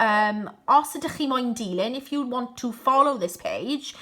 um, os ydych chi moyn dilyn, if you want to follow this page,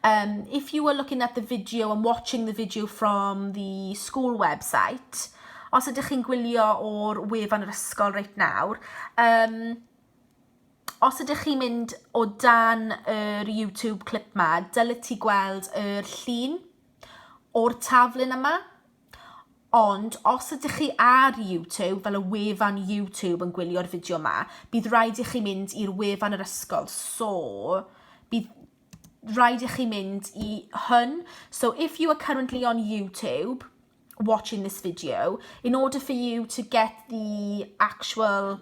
um, if you were looking at the video and watching the video from the school website, os ydych chi'n gwylio o'r wefan yr ysgol reit nawr, um, os ydych chi'n mynd o dan yr YouTube clip ma, dyle ti gweld yr llun o'r taflun yma, Ond os ydych chi ar YouTube, fel y wefan YouTube yn gwylio'r fideo ma, bydd rhaid i chi mynd i'r wefan yr ysgol. So, bydd rhaid i chi mynd i hwn. So, if you are currently on YouTube, watching this video, in order for you to get the actual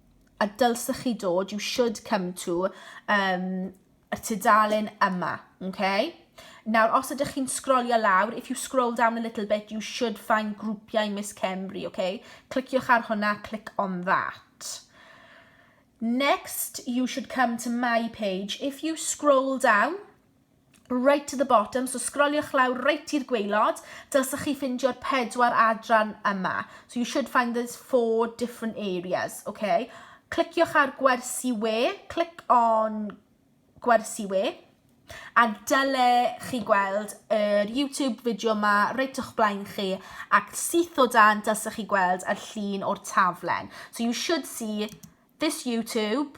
a dylsech chi dod, you should come to, um, y tudalen yma, okay? Nawr, os ydych chi'n sgrolio lawr, if you scroll down a little bit, you should find grwpiau Miss Cymru, okay? Cliciwch ar hwnna, click on that. Next, you should come to my page. If you scroll down, right to the bottom, so sgroliwch lawr reit i'r gweilod, dylsech chi ffindio'r pedwar adran yma. So you should find those four different areas, okay? Cliciwch ar gwersi we, click on gwersi we, a dyle chi gweld yr YouTube fideo yma reit o'ch blaen chi ac syth o dan dylsech chi gweld y llun o'r taflen. So you should see this YouTube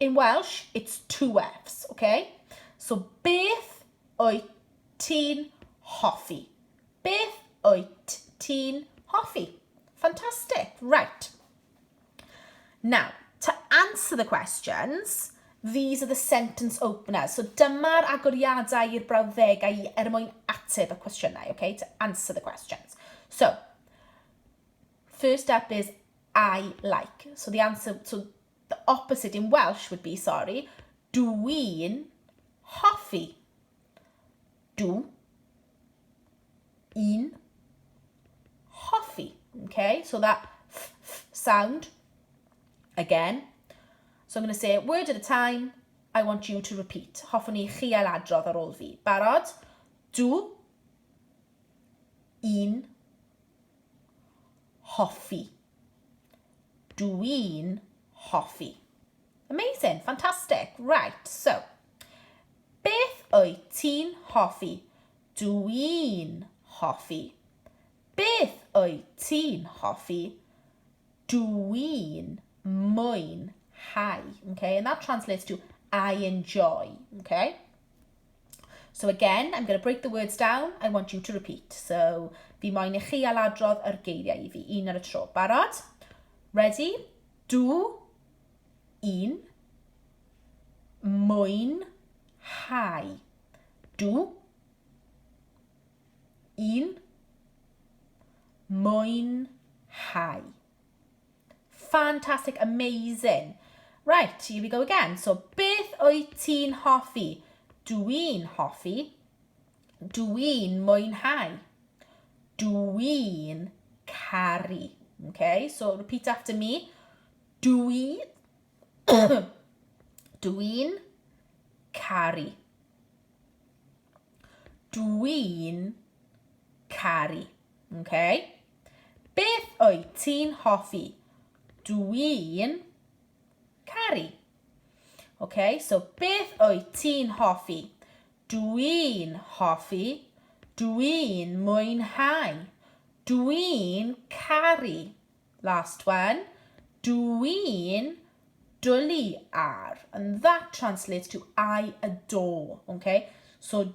In Welsh, it's two Fs, oce? So, beth wyt ti'n hoffi? Beth wyt ti'n hoffi? Fantastic, right. Now, to answer the questions, these are the sentence openers. So dyma'r agoriadau i'r brawddegau i er mwyn ateb y cwestiynau, okay, to answer the questions. So, first up is I like. So the answer, so the opposite in Welsh would be, sorry, dw i'n hoffi. Dw i'n hoffi. Okay, so that f, f sound again. So I'm going to say word at a time. I want you to repeat. Hoffwn i chi ail adrodd ar ôl fi. Barod? Dw i'n hoffi. Dw i'n hoffi. Amazing, fantastic. Right, so, beth wyt ti'n hoffi? Dw i'n hoffi. Beth wyt ti'n hoffi? Dw i'n mwynhau. Okay, and that translates to I enjoy. Okay? So again, I'm going to break the words down, I want you to repeat. So, fi moyn i chi aladrodd yr geiriau i fi, un ar y tro. Barod? Ready? Dw i'n moyn hau. Dw i'n moyn hau. Fantastic, amazing. Right, here we go again. So, beth wyt ti'n hoffi? Dw i'n hoffi. Dw i'n mwynhau. Dw i'n caru. Okay, so repeat after me. Dw i... Dw i'n caru. Dw i'n caru. Okay? Beth wyt ti'n hoffi? Dw i'n caru. Okay, so beth wyt ti'n hoffi? Dw i'n hoffi. Dw i'n mwynhau. Dw i'n caru. Last one. Dw i'n dwlu ar. And that translates to I adore. Okay? So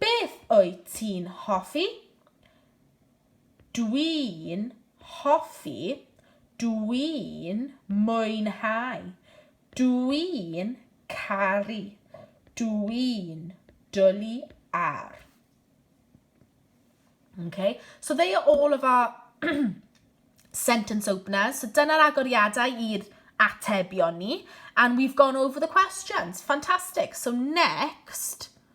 Beth wyt ti'n hoffi? Dwi'n hoffi, dwi'n mwynhau, dwi'n caru, dwi'n dwlu ar. Okay, so they are all of our sentence openers. So dyna'r agoriadau i'r atebion ni. And we've gone over the questions. Fantastic. So next...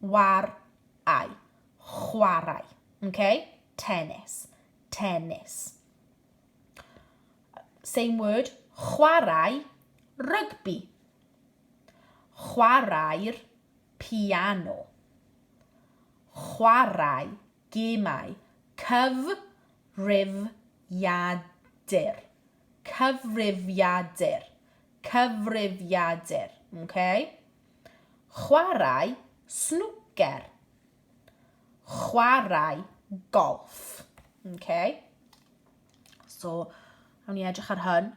war ai. Chwarae. Okay? Tennis. Tennis. Same word. Chwarae rygbi. Chwarae'r piano. Chwarae gemau. Cyf rif iadur. Cyfrifiadur. Cyfrifiadur. Okay? Chwarae snwcer. Chwarae golff. Okay. So, awn ni edrych ar hyn.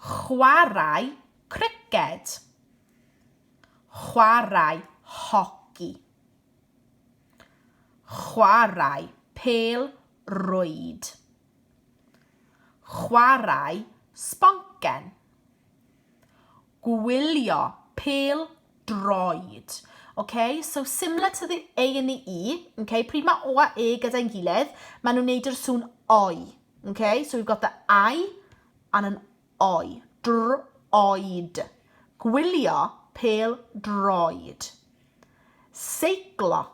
Chwarae criced. Chwarae hoci. Chwarae pel rwyd. Chwarae sboncen. Gwylio pêl droed. Ok, so similar to the A and the E. Ok, pryd mae O a E gyda'n gilydd, maen nhw'n neud yr sŵn oi. Ok, so we've got the I and an oi. Droed. Gwylio pêl droed. Seiclo.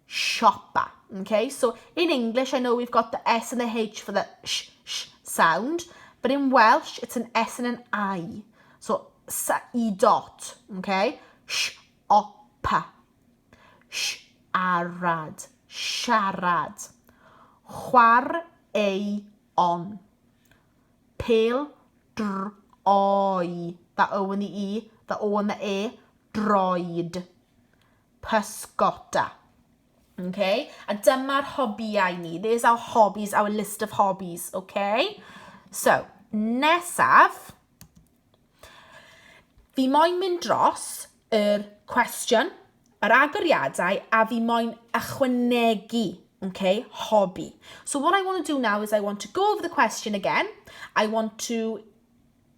Siopa. Okay, so in English I know we've got the S and the H for the sh, sh sound, but in Welsh it's an S and an I. So sa'i dot, okay? Sh, opa. Sh, arad, siarad. Chwar, ei, on. Pel, dr, oi. That O and the E, the O and the E, droed. pysgota. Ok? A dyma'r hobïau ni. There's our hobbies, our list of hobbies. Ok? So, nesaf, fi moyn mynd dros yr cwestiwn, yr agoriadau, a fi moyn ychwanegu okay, hobby. So what I want to do now is I want to go over the question again. I want to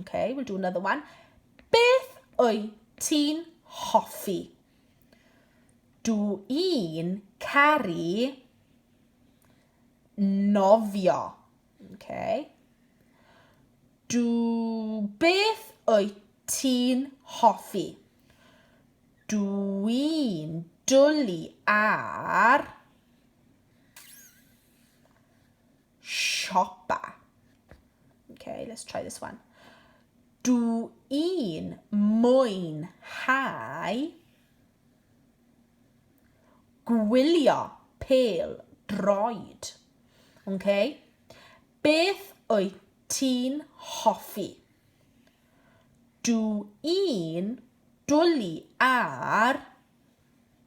Okay, we'll do another one. Beth wyt ti'n hoffi? Dw i'n caru nofio. Okay. Dw beth wyt ti'n hoffi? Dw i'n dwlu ar siopa. Okay, let's try this one. Dw i'n mwynhau gwylio pel droed. Okay? Beth wyt ti'n hoffi? Dw i'n dwlu ar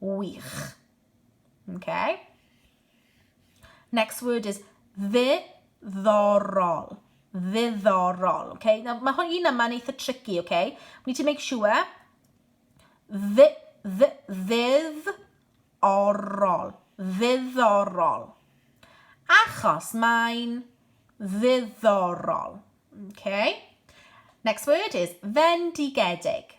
Wych. Okay. Next word is ddiddorol. Ddiddorol. Okay. Now, mae hwn un yma yn eitha tricky, okay? We need to make sure. Ddi, ddi, ddiddorol. Ddiddorol. Achos mae'n ddiddorol. Okay. Next word is fendigedig.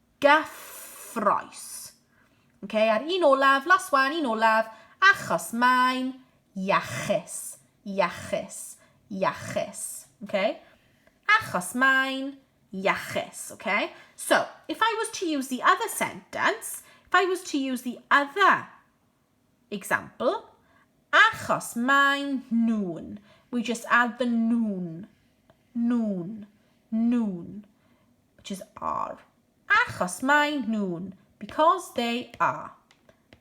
gyffroes. Okay, a'r un olaf, last one, un olaf, achos mae'n iachus, iachus, iachus. Okay? Achos mae'n iachus, okay? So, if I was to use the other sentence, if I was to use the other Example, Achos maen nhw'n, we just add the nhw'n, nhw'n, nhw'n, which is are. Achos maen nhw'n, because they are.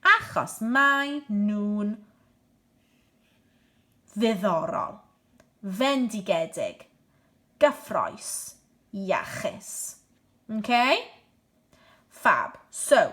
Achos maen nhw'n ddiddorol, fendigedig, gyffroes, iachus. Okay? Fab. So,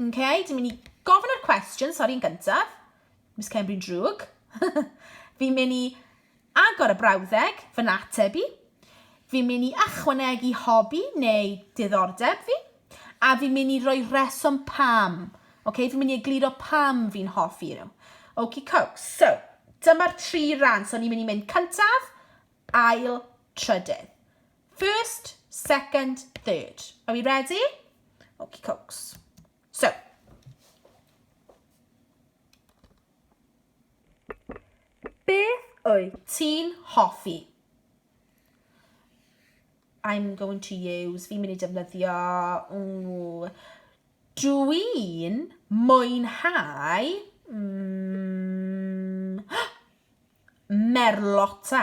Okay, dwi'n mynd i gofyn yr cwestiwn, sori'n gyntaf. Miss Cymru'n drwg. fi'n mynd i agor y brawddeg, fy nateb i. Fi'n mynd i ychwanegu hobi neu diddordeb fi. A fi'n mynd i roi reswm pam. Okay, fi'n mynd i egluro pam fi'n hoffi nhw. Oki coke. So, dyma'r tri ran. So, ni'n mynd i mynd cyntaf, ail, trydydd. First, second, third. Are we ready? Okie cokes. So, beth wyt ti'n hoffi? I'm going to use, fi'n mynd i defnyddio, ooh, dwi'n mwynhau mm, merlota.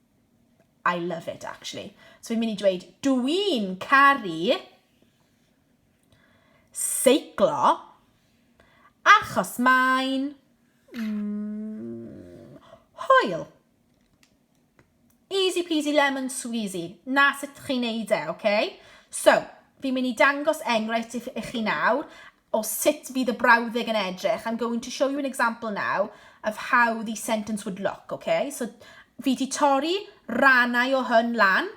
I love it, actually. So fi'n mynd i dweud, dw i'n caru seiclo achos mae'n mm, hwyl. Easy peasy lemon squeezy. Na sut chi'n neud e, oce? Okay? So, fi'n mynd i dangos enghraifft i chi nawr o sut fydd y brawddeg yn edrych, I'm going to show you an example now of how the sentence would look, okay? So, fi di torri rannau o hyn lan,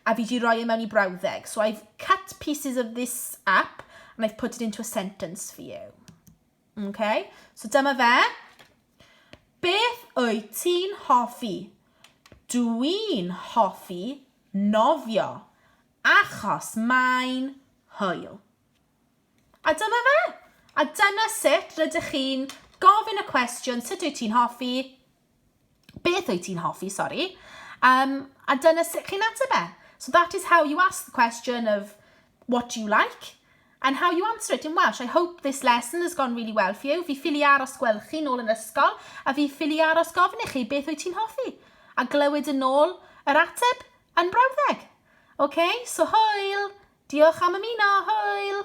a fi di roi e mewn i brawddeg. So I've cut pieces of this up, and I've put it into a sentence for you. Okay? So dyma fe. Beth wyt ti'n hoffi? Dwi'n hoffi nofio, achos mae'n hwyl. A dyna fe! A dyna sut rydych chi'n gofyn y cwestiwn sut wyt ti'n hoffi, beth wyt ti'n hoffi, sori, um, a dyna sut chi'n ateb e. So that is how you ask the question of what do you like and how you answer it in Welsh. I hope this lesson has gone really well for you. Fi ffili aros gweld chi nôl yn ysgol a fi ffili aros gofyn i chi beth wyt ti'n hoffi a glywed yn ôl yr ateb yn brawddeg. Ok, so hwyl! Diolch am ymuno, hwyl!